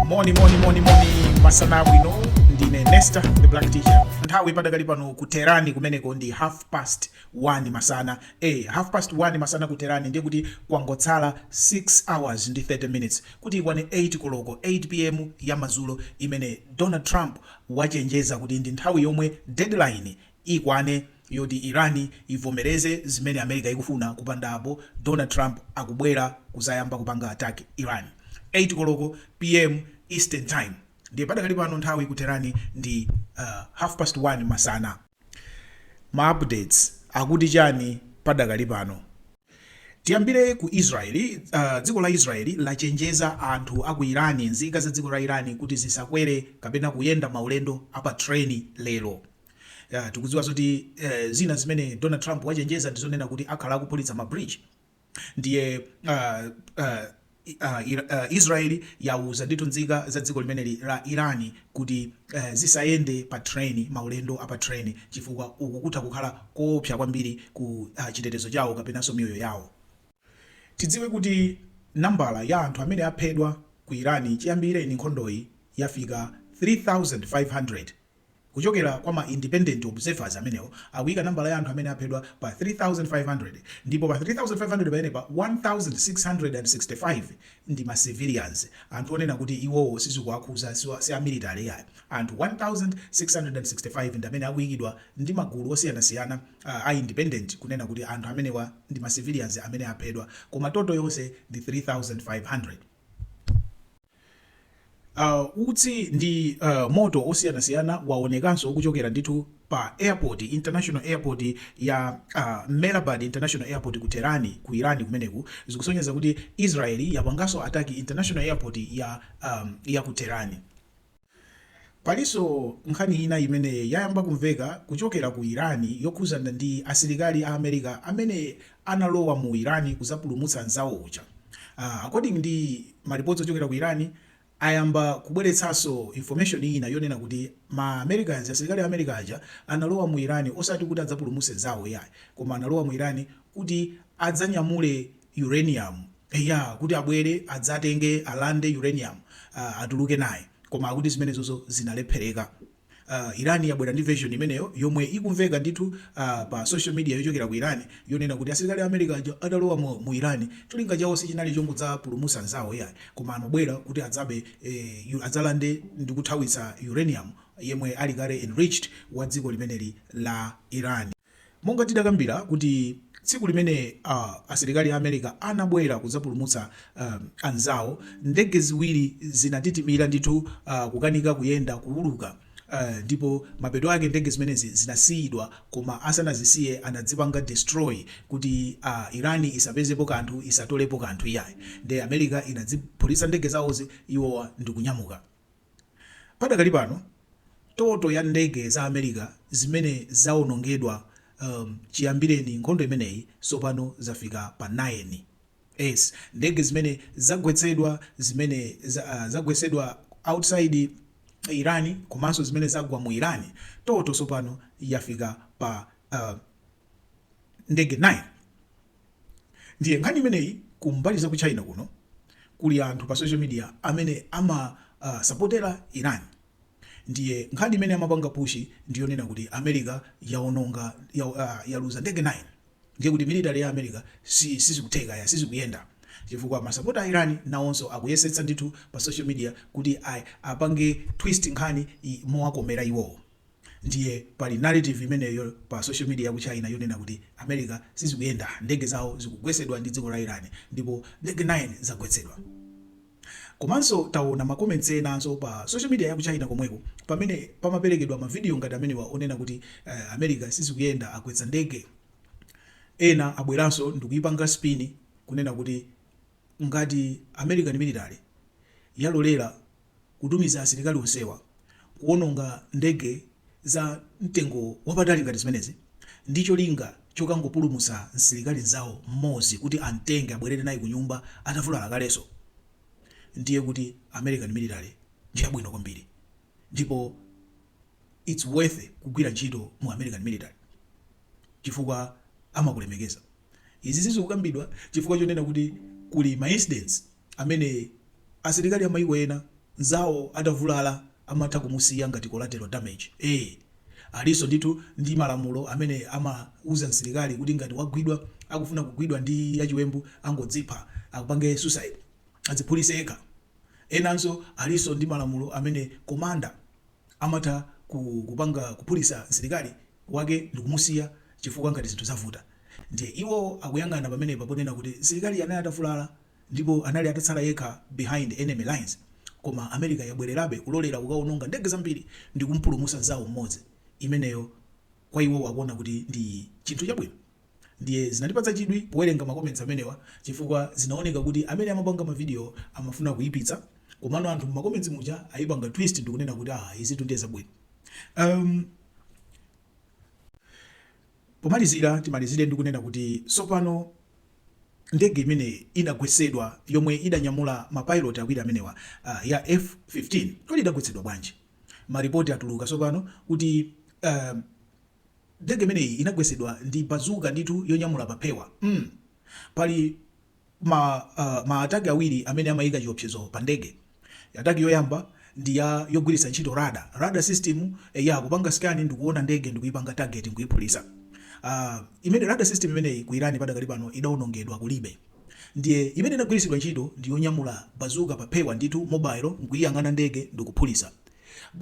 moni moni moni moni masana abwino ndine nesta the black teacher nthawi padakali pano ku Tehran kumeneko ndi half past 1 masana e half past 1 masana ku Tehran ndiye kuti kwangotsala 6 hours ndi 30 minutes kuti ikwane 8 koloko 8 pm ya madzulo imene donald trump wachenjeza kuti ndi nthawi yomwe deadline ikwane yoti Iran ivomereze zimene America ikufuna kupanda apo Donald Trump akubwera kuzayamba kupanga attack Iran, 8 koloko PM Eastern time ndiye padakali pano nthawi ku Tehran ndi half past 1 masana. Ma updates akuti chani padakali pano? Tiyambire ku Israel, dziko la Israel lachenjeza anthu aku Iran, nzika za dziko la Iran kuti zisakwere kapena kuyenda maulendo a pa train lero. Ya, tikudziwa zoti eh, zina zimene Donald Trump wachenjeza ndi zonena kuti akhala akuphulitsa ma bridge ndiye uh, uh, uh, Ira- uh, Israeli yauza ndithu nzika za dziko limeneli la Irani kuti uh, zisayende pa train maulendo apa train chifukwa uku kutha kukhala koopsa kwambiri ku uh, chitetezo chawo kapenanso miyoyo yawo tidziwe kuti nambala ya anthu amene aphedwa ku irani chiyambireni nkhondoyi yafika 3500 Kuchokera kwa ma independent observers amenewo akuyika nambala ya anthu amene aphedwa pa 3,500 ndipo pa 3,500 pamenepa 1,665 ndi ma civilians, anthu onena kuti iwowo sizikuwakhuza si a military iyayi, anthu 1,665 ndamene akuyikidwa ndi magulu osiyanasiyana a independent kunena kuti anthu amenewa ndi ma civilians amene aphedwa koma total yonse ndi 3,500. Uh, utsi ndi uh, moto osiyanasiyana waonekanso kuchokera ndithu pa airport international airport ya uh, Mehrabad international airport ku Tehran ku Iran kumeneku zikusonyeza kuti Israel yapanganso ataki international airport ya um, ya ku Tehran Palinso nkhani ina imene yayamba kumveka kuchokera ku Iran yokhudzana ndi asilikali a America amene analowa mu Iran kudzapulumutsa anzawo uja. Aah according ndi ma reports ochokera ku Iran ayamba kubweretsanso information ina yonena kuti ma Americans, asilikali a America aja analowa mu Iran osati kuti adzapulumutse nzawo iyayi koma analowa mu Iran kuti adzanyamule uranium eya kuti abwere adzatenge alande uranium atuluke naye koma akuti zimenezozo zinalephereka Iran yabwera ndi version imeneyo yomwe ikumveka ndithu pa social media yochokera ku Iran yonena kuti asilikali a America aja adalowa mu, mu Iran cholinga chawo sichinali chongodzapulumusa anzawo iyayi koma anabwera kuti adzabe eh, adzalande ndikuthawitsa uranium yemwe ali kale enriched wa dziko limeneli la Iran Monga tidakambila kuti tsiku limene a asilikali a America anabwela kudzapulumutsa anzawo, ndege ziwili zinatitimila ndithu kukanika kuyenda, kuwuluka, ndipo mapeto ake ndege zimenezi zinasiyidwa koma asanazisiye anazipanga destroy kuti Iran isapezepo kanthu, isatolepo kanthu iyayi, nde America inaziphulitsa ndege zawozi iwowa ndikunyamuka. Padakali pano toto ya ndege za America zimene zawonongedwa um chiyambireni nkhondo imeneyi tsopano zafika pa 9. So ndege zimene zagwetsedwa zimene za uh zagwetsedwa outside Iran komanso zimene zagwa mu Iran toto tsopano yafika pa uh ndege 9. Ndiye nkhani imeneyi ku mbali za ku China kuno kuli anthu pa social media amene ama uh, sapotera Iran ndiye nkhani imene amapanga pushi ndi yonena kuti America yaononga ya, uh, yaluza ndege 9 ndiye kuti military ya America si sizikutheka ya sizikuyenda chifukwa masapota a Iran nawonso akuyesetsa ndithu pa social media kuti apange twist nkhani mowakomera iwowo Ndiye pali narrative imeneyo pa social media ya ku China yonena kuti America sizikuyenda, ndege zawo zikugwetsedwa ndi dziko la Iran ndipo ndege 9 zagwetsedwa. Komanso taona ma comments enanso pa social media ya ku China komweko pamene pamaperekedwa ma video ngati amenewa onena kuti America sizikuyenda, agwetsa ndege. Ena abweranso ndikuipanga spin kunena kuti ngati American military yalolera kutumiza asilikali onsewa kuwononga ndege za mtengo wapatali ngati zimenezi ndi cholinga chokangopulumutsa msilikali mzawo mmodzi kuti amtenge abwerere naye kunyumba atavulala kalenso, ndiye kuti American military ndi yabwino kwambiri ndipo its worth kugwira ntchito mu American military chifukwa amakulemekeza. Izizi zikukambidwa chifukwa chonena kuti kuli ma incidents amene asilikali a maiko ena nzawo atavulala amatha kumusiya ngati collateral damage. Eee! Alinso ndithu ndi malamulo amene amauza msilikali kuti ngati wagwidwa akufuna kugwidwa ndi achiwembu angodzipha, apange suicide, adziphulise yekha. Enanso alinso ndi malamulo amene commander amatha kuphulisa msilikali wake ndikumusiya chifukwa ngati zinthu zavuta. Ndiye iwo akuyang'ana pamenepa ponena kuti msilikali anali atavulala. ndipo anali atatsala yekha behind enemy lines koma America yabwelerabe kulolera kukaononga ndege zambiri ndikumpulumusa nzawo mmodzi imeneyo kwa iwowo akuona kuti ndi chinthu chabwino ndiye zinandipatsa chidwi powelenga ma comments amenewa chifukwa zinaoneka kuti amene amapanga ma video amafuna kuipitsa komano anthu mma comments muja aipanga twist ndikunena kuti aah izitu ndiye zabwino um, Pomalizira timalizire ndi kunena kuti tsopano ndege imene inagwetsedwa yomwe idanyamula ma pilot awiri amenewa ya F-15, kodi idagwetsedwa bwanji? Ma report atuluka tsopano kuti ndege imeneyi inagwetsedwa ndi bazooka ndithu yonyamula pa phewa mm pali. Ma ma attack awiri amene amaika chiopsezo pa ndege. Attack yoyamba ndi ya yogwiritsa ntchito radar. Radar system ya kupanga scan ndikuona ndege ndikuipanga target nkuiphulisa. Aaa imene radar system imeneyi ku Iran padakali pano idaonongedwa kulibe. Ndiye imene inagwiritsidwa ntchito ndi yonyamula bazooka pa phewa ndithu mobile nkuiyang'ana ndege ndikuphulisa.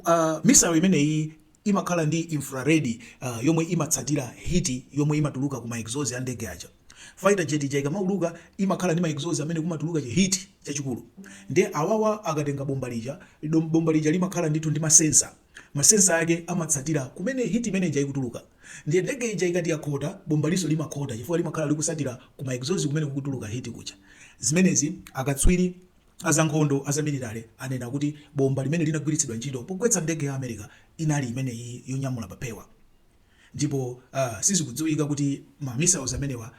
Aaa missile imeneyii imakhala ndi infrared yomwe imatsatira heat yomwe imatuluka ku ma exhaust a ndege aja. Fighter jet ija ikamauluka imakhala ndi ma exhaust amene kumatuluka chi heat chachikulu ndiye awawa akatenga bomba lija, bomba lija limakhala ndithu ndi ma sensor, ma sensor ake amatsatira kumene heat imene ija ikutuluka ndiye ndege ija ikati yakhota, bombalonso limakhota chifukwa limakhala likutsatira ku ma exhaust kumene kukutuluka heat kuja. Zimenezi akatswiri. A zankhondo a zamilitale anena kuti bomba limene linagwiritsidwa ntchito pogwetsa ndege ya America inali imeneyi yonyamula pa phewa ndipo sizikudziwika kuti ma missiles amenewa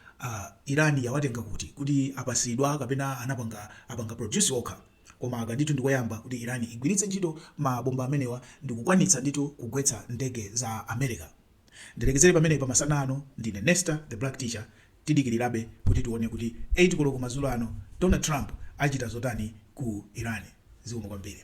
Iran yawatenga kuti, kuti apatsidwa kapena anapanga apanga produce okha koma aka ndithu ndikoyamba kuti Iran igwiritse ntchito ma bomba amenewa ndikukwanitsa ndithu kugwetsa ndege za America. Ndilekezere pamenepa pa masana ano, ndine Nesta the Black Teacher, tidikirirabe kuti tione kuti 8 koloko madzulo ano Donald Trump achita zotani ku Iran. Zikomo kwambiri.